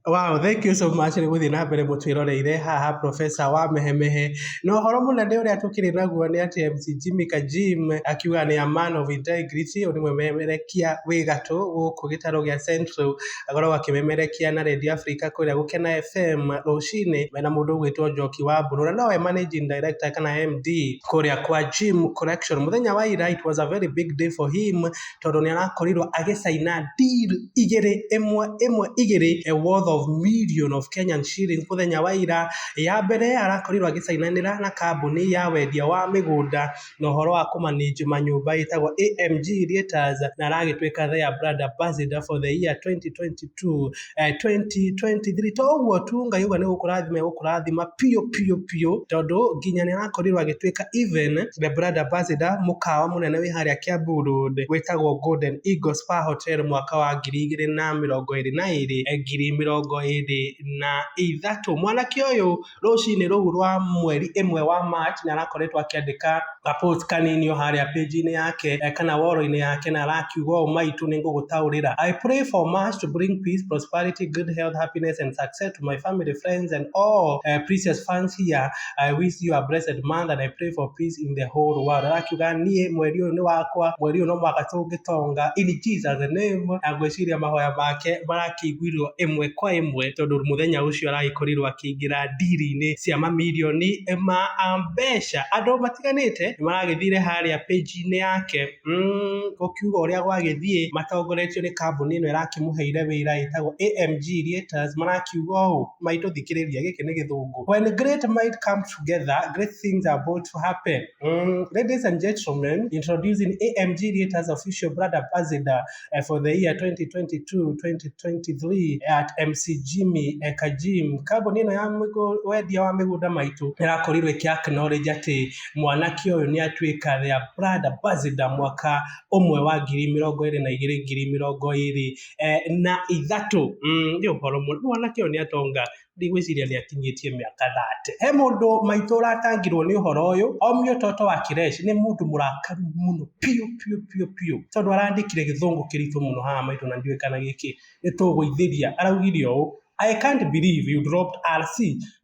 Wow, thank you so much nĩ gũthiĩ na mbere mũtwĩroreire haha Professor wa Mehemehe. Na ũhoro mũnene ũrĩa tũkĩrĩ naguo nĩ atĩ MC Jimmy Kajim akiuga nĩ a man of integrity, ũyũ nĩ mwĩmemerekia wĩ gatũ gũkũ gĩtarũ gĩa Central, akoragwo akĩmemerekia na Radio Africa kũrĩa Gũkena FM rũcinĩ mena mũndũ ũgwĩtwo Njoki wa Mbũrũ, na nowe managing director kana MD kũrĩa kwa Jim Collection. Mũthenya wa ira it was a very big day for him, tondũ nĩ arakorirwo agĩcaina deal igĩrĩ ĩmwe ĩmwe igĩrĩ a worth of million of Kenyan shillings mũthenya wa ira. Ya mbere arakorirwo agĩcainanĩra na kambuni ya wendia wa mĩgũnda na ũhoro wa kũ manage manyũmba ĩtagwo AMG Realtors na aragĩtuĩka their brand ambassador for the year 2022. eh, 2023 to ũguo tu ngai uga nĩ gũkũrathima gũkũrathima piũ piũ piũ tondũ nginya nĩ arakorirwo agĩtuĩka even the brand ambassador mũkawa mũnene wĩ harĩa Kiambu Road wĩtagwo Golden Eagle Spa Hotel mwaka wa ngiri igĩrĩ na mĩrongo ĩrĩ na ĩrĩ eh, ngiri mĩrongo ĩrĩ na ithatũ mwanake ũyũ rũcinĩ rũu rwa mweri ĩmwe wa March na arakoretwo akĩandĩka ka post kanini o harĩa page-inĩ yake eh, kana woro-inĩ yake na arakiuga ũũ maitũ nĩ ngũgũtaũrĩra I pray for March to bring peace, prosperity, good health, happiness and success to my family, friends and all uh, precious fans here. I wish you a blessed month and I pray for peace in the whole world. Arakiuga niĩ mweri ũyũ nĩ wakwa, mweri ũyũ no mwaka tũngĩtonga in Jesus name. Na ngwĩciria mahoya make marakĩiguirwo ĩmwe kwa ĩmwe tondũ mũthenya ũcio aragĩkorirwo makĩingĩra ndiri-inĩ cia mamirioni ma mbeca. Andũ matiganĩte nĩ maragĩthire harĩa page-inĩ yake mm, gũkiuga ũrĩa gwagĩthiĩ matongoretio nĩ kambuni ĩno ĩrakĩmũheire wĩra ĩtagwo AMG Letters marakiuga ũũ maitũ thikĩrĩria gĩkĩ nĩ gĩthũngũ when great might come together great things are about to happen mm, ladies and gentlemen introducing AMG Letters official brand ambassador uh, for the year 2022 2023 at mcgimi eka gym kambuni ĩno ya mĩgũ- wendia wa mĩgũnda maitũ ĩrakorirwo ĩkĩ acknowledge atĩ mwanake ũyũ nĩ atuĩka their brand ambassador mwaka ũmwe wa ngiri mĩrongo ĩrĩ na igĩrĩ ngiri mĩrongo ĩrĩ eh, na ithatũ Mm, nĩ ũhoro mũno mwanake ũyũ nĩ atonga ndigwĩciria nĩ akinyĩtie mĩaka thate he mũndũ maitũ ũratangirwo nĩ ũhoro ũyũ omio toto wa kireshi nĩ mũndũ mũrakaru mũno piũ piũ piũ piũ tondũ arandĩkire gĩthũngũ kĩritũ mũno haha maitũ na ndiũĩ kana gĩkĩ nĩ tũgũithĩria araugire ũũ I can't believe you dropped RC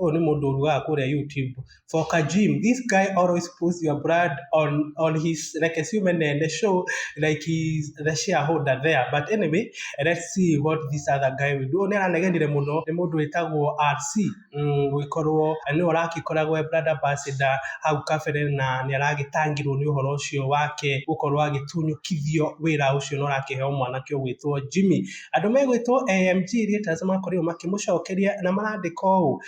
ũyũ nĩ mũndũ ũrugaga kũrĩa YouTube for Kajim, this guy always puts your brand on on his like a human and the show like he's the shareholder there. But anyway, let's see what this other guy will do. Nĩ aranegenire mũno nĩ mũndũ wĩtagwo RC mm, gũgĩkorwo nĩ ũragĩkoragwo e brand ambassador hau kabere na nĩ aragĩtangirwo nĩ ũhoro ũcio wake gũkorwo agĩtunyũkithio wĩra ũcio na ũrakĩheo mwanake ũgwĩtwo Jimmy. Andũ megwĩtwo AMG Ritas makorirwo makĩmũcokeria na marandĩka ũũ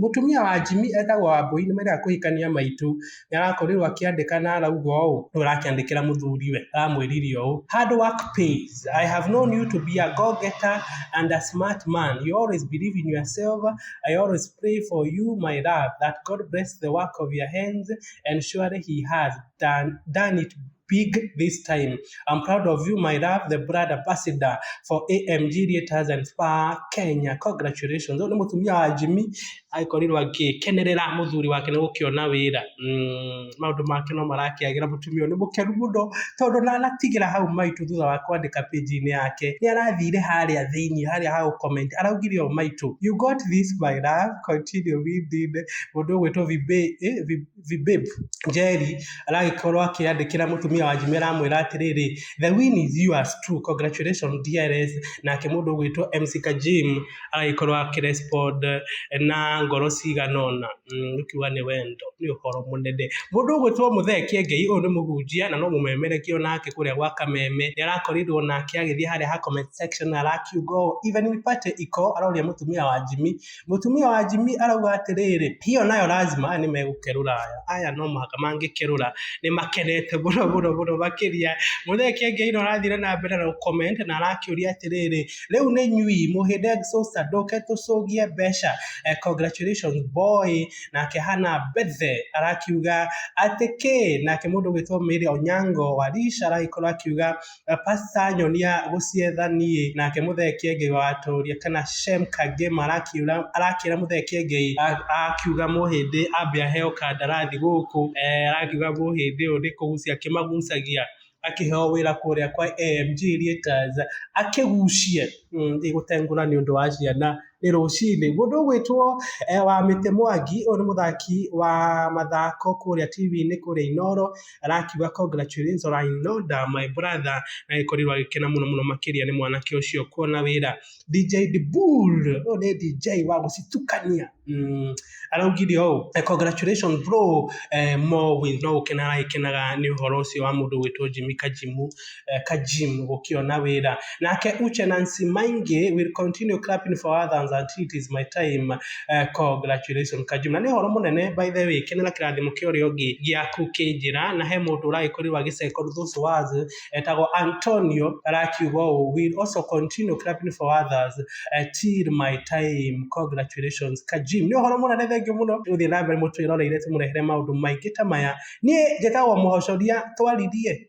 Mũtumia wa Jimmy etagwo Wambũi nĩ marĩaga kũhikania maitũ. Nĩ arakorirwo akĩandĩka na arauga ũũ, nĩ ũrakĩandĩkĩra mũthuriwe, aramwĩrire ũũ, Hard work pays. I have known you to be a go getter and a smart man. You always believe in yourself. I always pray for you my love that God bless the work of your hands and surely he has done it big this time. I'm proud of you, my love, the brand ambassador for AMG Theaters and Spa Kenya. Congratulations. Nĩ mũtumia wa Jimmy akorirwo agĩkenerera mũthuri wake nĩ gũkĩona wĩra. Mm, maũndũ make no marakĩagĩra mũtumia ũyũ nĩ mũkenu mũno tondũ na anatigĩra hau maitũ thutha wa kwandĩka page-inĩ yake. Nĩ arathire harĩa thĩinĩ harĩa ha gũcomment araugire ũũ maitũ. You got this my love, continue with it. Mũndũ ũgwĩtwo Vibe, eh, Vibe Vibeb Njeri aragĩkorwo akĩandĩkĩra mũtumia wa Njime aramwĩra atĩrĩrĩ, the win is yours too, congratulations dearest, nake mũndũ ũgwĩtwo MC Kajim agagĩkorwo akĩ respond na ngoro cigana ũna, nĩ kuga nĩ wendo, nĩ ũhoro mũnene. Mũndũ ũgwĩtwo Mũthee Kĩengei, ũyũ nĩ mũhunjia na no mũmemerekia o nake kũrĩa gwa Kameme, nĩ arakorirwo nake agĩthiĩ harĩa ha comment section arakiuga ũũ, even we party iko, aroria mũtumia wa Njimi. Mũtumia wa Jimmy arauga atĩrĩrĩ, hiyo nayo lazima nĩ megũkerũra aya. Aya no mũhaka mangĩkerũra nĩ makenete mũno mũno mũno makĩria. Mũthee Kiengei no arathire na mbere na gũcomment na arakĩũria atĩrĩrĩ, rĩu nĩ inyui mũhĩnda exhauster ndũke tũcũgie mbeca? Congratulations boy. Nake Hannah Mbethe arakiuga atĩ kĩĩ? Nake mũndũ ũgwĩtwo Mary Onyango wa Leisure aragĩkorwo akiuga Pasta nyonia gũcietha niĩ. Nake Mũthee Kĩengei wa Watũũria kana Shem Kagĩma arakiura arakĩra Mũthee Kĩengei akiuga Mũhĩndĩ ambe aheo kandarathi gũkũ arakiuga Mũhĩndĩ ũyũ nĩ kũgucia akĩmagucagia akĩheo wĩra kũrĩa kwa AMG Rieters akĩgucie ĩgũtengũra nĩ ũndũ wa ciana nĩ rũcinĩ. Mũndũ ũgwĩtwo eh, wa mĩtĩ mwangi ũyũ nĩ mũthaki wa mathako kũrĩa TV-inĩ kũrĩa Inoro arakiuga congratulations Rainoda my brother na gĩkorirwo agĩkena mũno mũno makĩria nĩ mwanake ũcio kuona wĩra DJ Dibul ũyũ nĩ DJ wa gũcitukania mm. Araugire ũũ, Congratulations bro, more wins no gũkena aragĩkenaga nĩ ũhoro ũcio wa mũndũ ũgwĩtwo Jimmy Kajimu, Kajim gũkĩona wĩra. Nake Uche Nancy Maingi will continue clapping for others until it is my time, congratulations Kajim. Na nĩ ũhoro mũnene by the way, kenera kĩrathimo kĩa ũrĩa ũngĩ gĩaku kĩ njĩra, na he mũndũ ũragĩkorirwo agĩ second those words. etagwo Antonio arakiuga ũũ will also continue clapping for others uh, till my time congratulations kajim nĩ ũhoro mũnene thengio mũno gũthiĩ na mbere mũtwĩroreire tũmũrehere maũndũ maingĩ ta maya niĩ njĩtagwo mũhocoria twaririe